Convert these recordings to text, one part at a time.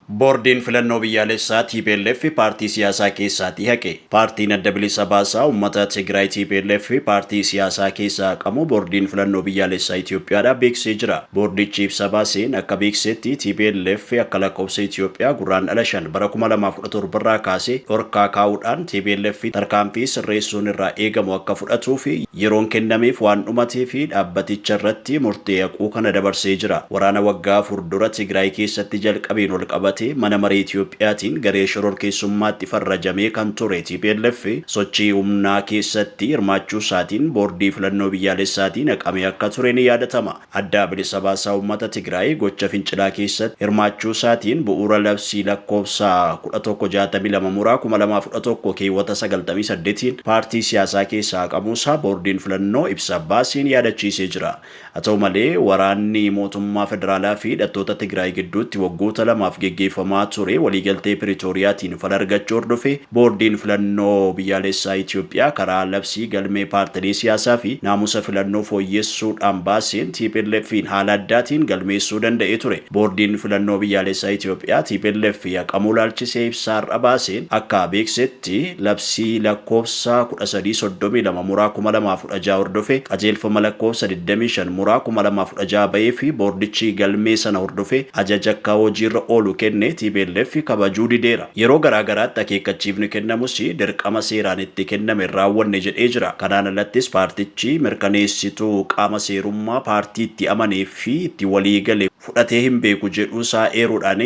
Boordiin Filannoo Biyyaalessaa tplf paartii siyaasaa keessaatii haqe. Paartiin Adda Bilisa Baasaa Uummata Tigraay tplf paartii siyaasaa keessaa haqamuu Boordiin Filannoo Biyyaalessaa Itiyoophiyaadhaa beeksisee jira. Boordichi ibsa baaseen akka beeksisetti tplf akka lakkoofsa Itiyoophiyaa Gurraandhala 5 bara 2017 irraa kaasee dhorkaa kaa'uudhaan tplf tarkaanfii sirreessuun irraa eegamu akka fudhatuufi Yeroon kennameef waan dhumateef dhaabbaticha irratti murtee haquu kana dabarsee jira. Waraana waggaa afur dura Tigraay keessatti jalqabeen walqabatee mana maree Itoophiyaatiin garee shororkeessummaatti farrajamee kan ture tplf sochii humnaa keessatti hirmaachuusaatiin Boordii Filannoo Biyyaalessaatiin haqamee akka ture ni yaadatama. Adda Bilisa Baasaa Uummata Tigraay gocha fincilaa keessatti hirmaachuu isaatiin bu'uura labsii lakkoofsa 1162 muraa 2011 keewwata 98n paartii siyaasaa keessaa haqamuu isaa boordiin filannoo ibsa baaseen yaadachiisee jira. Haa ta'u malee, waraanni mootummaa federaalaa fi hidhattoota Tigraay gidduutti waggoota lamaaf geggeeffamaa ture waliigaltee Piritooriyaatiin fala argachuu hordofee Boordiin Filannoo Biyyaalessaa Itiyoophiyaa karaa labsii galmee paartilee siyaasaa fi naamusa filannoo fooyyessuu dhaan baaseen TPLFiin haala addaatiin galmeessuu danda'ee ture. Boordiin Filannoo Biyyaalessaa Itiyoophiyaa tplf haqamuu ilaalchisee ibsa har'a baaseen akka beeksetti labsii lakkoofsa 13 32 muraa 2016 hordofee qajeelfama lakkoofsa 25 muraa 2016 bahee fi boordichi galmee sana hordofee ajaja akka hojiirra oolu kenne tplf kabajuu dideera. Yeroo garaa garaatti akeekkachiifni kennamus dirqama seeraan itti kenname hin raawwanne jedhee jira. Kanaan alattis paartichi mirkaneessituu qaama seerummaa paartii itti amanee fi itti walii gale fudhatee hin beeku jedhuusaa eeruudhaan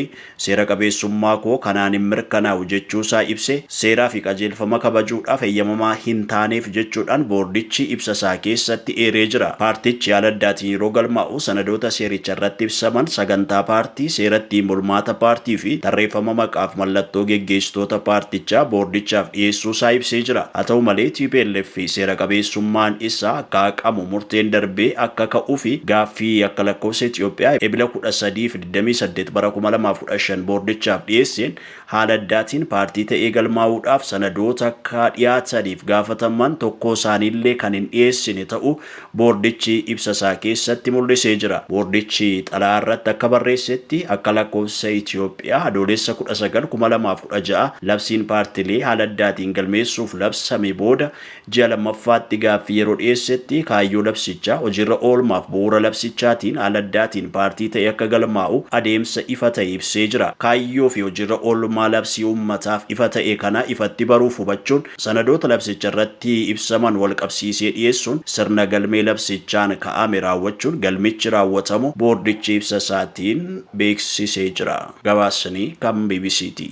seera qabeessummaa koo kanaan hin mirkanaa'u jechuusaa ibsee seeraa fi qajeelfama kabajuudhaaf eyyamamaa hin taaneef jechuudhaan boordichi ibsasaa keessatti eeree jira. Paartichi haala addaatiin yeroo galmaa'u. sanadoota seericha irratti ibsaman, sagantaa paartii, seera ittiin bulmaata paartii fi tarreeffama maqaaf mallattoo geggeessitoota paartichaa boordichaaf dhiyeessuu isaa ibsee jira. Haa ta'u malee, tplf seera qabeessummaan isaa akka haqamu murteen darbee akka ka'uu fi gaaffii akka lakkoofsa Itiyoophiyaa Ebila 13 fi 28 bara 2015 boordichaaf dhiyeesseen Haala addaatiin paartii ta'ee galmaa'uudhaaf sanadoota akka dhiyaataniif gaafataman tokkoo isaaniillee kan hin dhiyeessine ta'uu boordichi ibsa isaa keessatti mul'isee jira. Boordichi xalayaa irratti akka barreessetti akka lakkoofsa Itiyoophiyaa Adoolessa 19, 2016 labsiin paartilee haala addaatiin galmeessuuf labsame booda ji'a lammaffaatti gaaffii yeroo dhiyeessetti kaayyoo labsichaa, hojiirra oolmaaf bu'uura labsichaatiin haala addaatiin paartii ta'ee akka galmaa'u adeemsa ifa ta'e ibsee jira. Kaayyoo fi hojiirra oolmaa labsii uummataaf ifa ta'e kana ifatti baruuf hubachuun sanadoota labsicharratti ibsaman walqabsiisee dhiyeessuun sirna galmee labsichaan ka'ame raawwachuun galmichi raawwatamuu boordichi ibsa isaatiin beeksisee jira. Gabaasni kan bbc ti.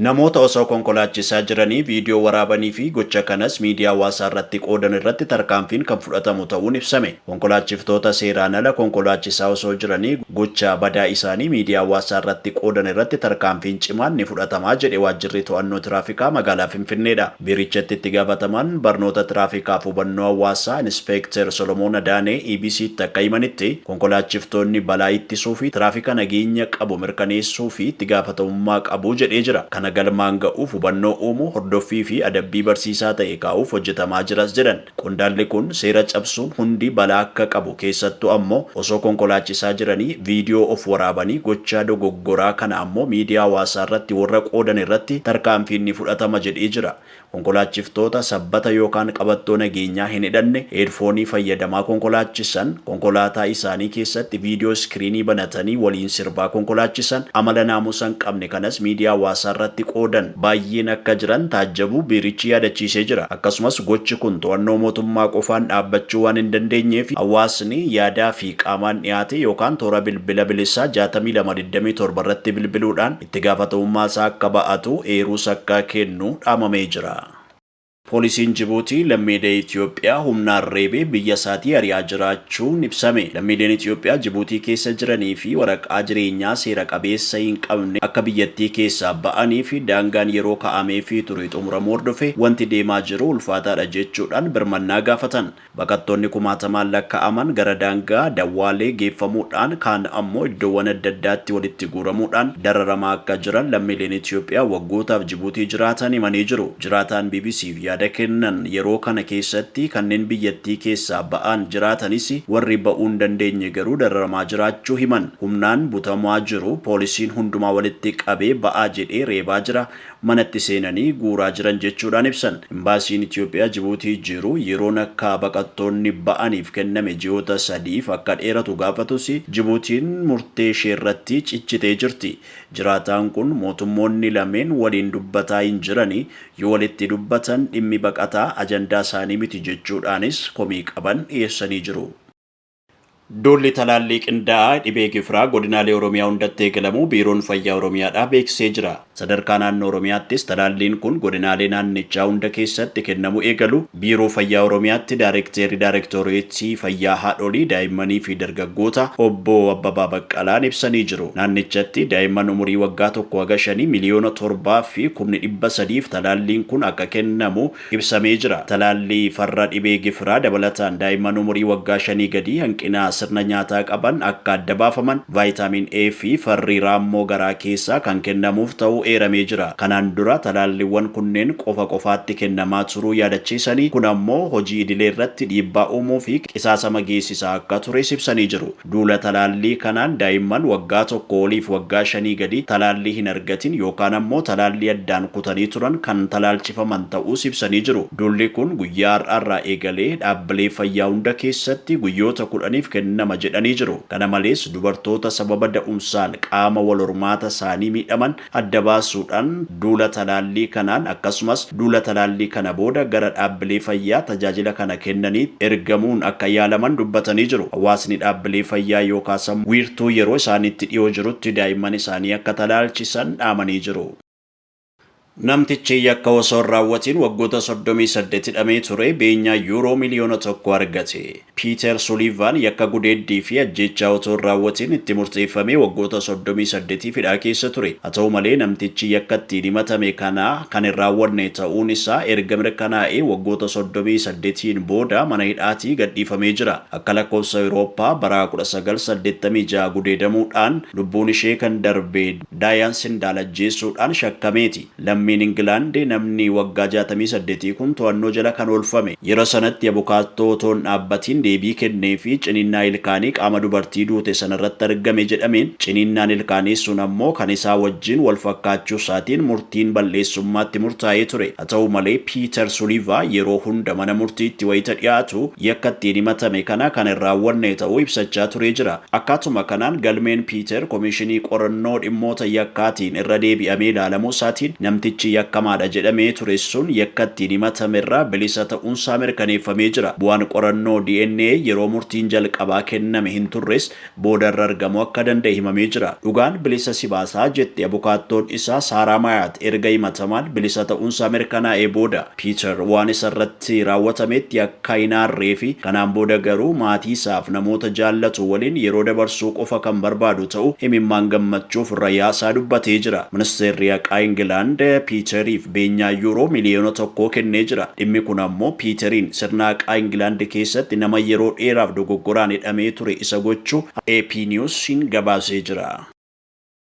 Namoota osoo konkolaachisaa jiranii viidiyoo waraabanii fi gocha kanas miidiyaa hawaasaa irratti qoodan irratti tarkaanfiin kan fudhatamu ta'uun ibsame. Konkolaachiftoota seeraan ala konkolaachisaa osoo jiranii gocha badaa isaanii miidiyaa hawaasaa irratti qoodan irratti tarkaanfiin cimaan ni fudhatama jedhe Waajjirri To'annoo Tiraafikaa Magaalaa Finfinneedha. Biirichatti itti gaafatamaan barnoota tiraafikaaf hubannoo hawaasaa Inispeekter Solomoon Adaanee EBCtti akka himanitti, konkolaachiftoonni balaa ittisuu fi tiraafika nageenya qabu mirkaneessuu fi itti gaafatamummaa qabu jedhee jira. Kana galmaan ga'uuf hubannoo uumuu, hordoffii fi adabbii barsiisaa ta'e kaa'uuf hojjetamaa jiras jedhan. Qondaalli kun seera cabsuun hundi balaa akka qabu keessattuu ammoo osoo konkolaachisaa jiranii viidiyoo of waraabanii gochaa dogoggoraa kana ammoo miidiyaa hawaasaa irratti warra qoodan irratti tarkaanfiin ni fudhatama jedhee jira. Konkolaachiftoota sabbata yookaan qabattoo nageenyaa hin hidhanne heedfoonii fayyadamaa konkolaachisan, konkolaataa isaanii keessatti viidiyoo iskiriinii banatanii waliin sirbaa konkolaachisan, amala naamusa hin qabne kanas miidiyaa hawaasaa irratti qoodan. baay'een akka jiran taajjabuu biirichi yaadachiisee jira. Akkasumas gochi kun to'annoo mootummaa qofaan dhaabbachuu waan hin dandeenyeef hawaasni yaadaa fi qaamaan dhiyaatee yookaan toora bilbila bilisaa jaatamii lama digdamii torba irratti bilbiluudhaan itti gaafatamummaa isaa akka ba'atu eeruus akka kennu dhaamamee jira. Poolisiin Jibuutii lammiilee Itiyoophiyaa humnaan reebee biyya isaatii ari'aa jiraachuun ibsame. Lammiileen Itiyoophiyaa Jibuutii keessa jiranii fi waraqaa jireenyaa seera qabeessa hin qabne akka biyyattii keessaa ba'anii fi daangaan yeroo ka'ameefii ture xumuramuu hordofee wanti deemaa jiru ulfaataadha jechuudhaan birmannaa gaafatan. Baqattoonni kumaatamaan lakka'aman gara daangaa Dawwaalee geeffamuudhaan kaan ammoo iddoowwan adda addaatti walitti guuramuudhaan dararamaa akka jiran lammiileen Itiyoophiyaa waggootaaf Jibuutii jiraatan himanii jiru. Jiraataan BBC'f yaada kennan yeroo kana keessatti kanneen biyyattii keessaa ba'aan jiraatanis warri ba'uu hin dandeenye garuu dararamaa jiraachuu himan. Humnaan butamaa jiru, poolisiin hundumaa walitti qabee ba'aa jedhee reebaa jira, manatti seenanii guuraa jiran jechuudhaan ibsan. Imbaasiin Itiyoophiyaa Jibuutii jiru yeroon akka baqattoonni ba'aniif kenname ji'oota sadiif akka dheeratu gaafatus Jibuutiin murtee isheerratti cichitee jirti. Jiraataan kun mootummoonni lameen waliin dubbataa hin jirani, yoo walitti dubbatan dhimmi baqataa ajandaa isaanii miti jechuudhaanis komii qaban dhiyeessanii jiru. Duulli talaallii qindaa'aa dhibee gifiraa godinaalee Oromiyaa hundatti eegalamuu Biiroon Fayyaa Oromiyaadhaa beeksisee jira. Sadarkaa naannoo Oromiyaattis talaalliin kun godinaalee naannichaa hunda keessatti kennamuu eegaluu Biiroo Fayyaa Oromiyaatti Daarekteerri Daarektoreetii Fayyaa Haadholii, Daa'immanii fi Dargaggootaa Obbo Abbabaa Baqqalaan ibsanii jiru. Naannichatti daa'imman umurii waggaa 1 haga 5 miliyoona 7 fi kumni 300f talaalliin kun akka kennamu ibsamee jira. Talaallii farra dhibee gifiraa dabalataan daa'imman umurii waggaa shanii gadii hanqina sirna nyaataa qaban akka adda baafaman Vaayitaamiin A fi farri raammoo garaa keessaa kan kennamuuf ta'uu eeramee jira. Kanaan dura talaalliwwan kunneen qofa qofaatti kennamaa turuu yaadachiisanii, kun ammoo hojii idilee irratti dhiibbaa uumuu fi qisaasama geessisaa akka tures ibsanii jiru. Duula talaallii kanaan daa'imman waggaa tokkoo oliif waggaa shanii gadii talaallii hin argatin yookaan ammoo talaallii addaan kutanii turan kan talaalchifaman ta'uus ibsanii jiru. Duulli kun guyyaa har'aarraa eegalee dhaabbilee fayyaa hunda keessatti guyyoota kudhaniif kennama jedhanii jiru. Kana malees dubartoota sababa da'umsaan qaama wal hormaata isaanii miidhaman, adda baasuudhaan duula talaallii kanaan akkasumas duula talaallii kana booda gara dhaabbilee fayyaa tajaajila kana kennaniitti ergamuun akka yaalaman dubbatanii jiru. Hawaasni dhaabbilee fayyaa yookaasamu wiirtuu yeroo isaaniitti dhiyoo jirutti daa'imman isaanii akka talaalchisan dhaamanii jiru. Namtichi yakka osoo hin raawwatiin waggoota soddomii saddeet hidhamee ture beenyaa Yuuroo miliyoona tokko argate. Piiter Suliivaan yakka gudeeddii fi ajjeechaa otoo hin raawwatiin itti murteeffamee waggoota soddomii saddetiif hidhaa keessa ture. Haa ta'u malee namtichi yakka ittiin himatame kana kan hin raawwanne ta'uun isaa erga mirkanaa'ee waggoota soddomii saddetiin booda mana hidhaatii gadhiifamee jira. Akka lakkoofsa Awurooppaa bara kudha sagal saddeettamii ja'a gudeedamuudhaan lubbuun ishee kan darbe Daayaan Sindaal ajjeessuudhaan shakkameeti. Lammiin Ingilaand namni waggaa jaatamii saddetii kun to'annoo jala kan oolfame, yera sanatti abukaattoo otoo hin dhaabbatiin deebii kennee fi ciniinnaa ilkaanii qaama dubartii duute sana irratti argame jedhameen, ciniinnaan ilkaanii sun ammoo kan isaa wajjin wal fakkaachuu isaatiin murtiin bal'eessummaa itti murtaa'ee ture. Haa ta'u malee, Piiter Suliivaa yeroo hunda mana murtiitti wayita dhiyaatu, yakka ittiin himatame kana kan hin raawwanne ta'uu ibsachaa turee jira. Akkaatuma kanaan galmeen Piiter Komishinii Qorannoo Dhimmoota Yakkaatiin irra deebi'amee ilaalamuu isaatiin namtichi yakkamaadha jedhamee ture sun yakka ittiin himatame irraa bilisa ta'uun isaa mirkaneeffamee jira. Bu'aan qorannoo DNA yeroo murtiin jalqabaa kenname hin turres booda irra argamuu akka danda'e himamee jira. Dhugaan bilisa si baasa, jetti abukaattoon isaa Saaraa Maayaat erga himatamaan bilisa ta'uun isaa mirkanaa'ee booda. Piiter waan isa irratti. irratti raawwatametti akka hin aarree fi kanaan booda garuu maatii isaaf namoota jaallatu waliin yeroo dabarsuu qofa kan barbaadu ta'uu imimmaan gammachuuf irra yaasaa dubbatee jira. Ministeerri Haqaa Ingilaand Piiteriif beenyaa Yuuroo miliyoona tokkoo kennee jira. Dhimmi kun ammoo Piiteriin sirna haqaa Ingilaand keessatti nama yeroo dheeraaf dogoggoraan hidhamee ture isa gochuu AP News'n gabaasee jira.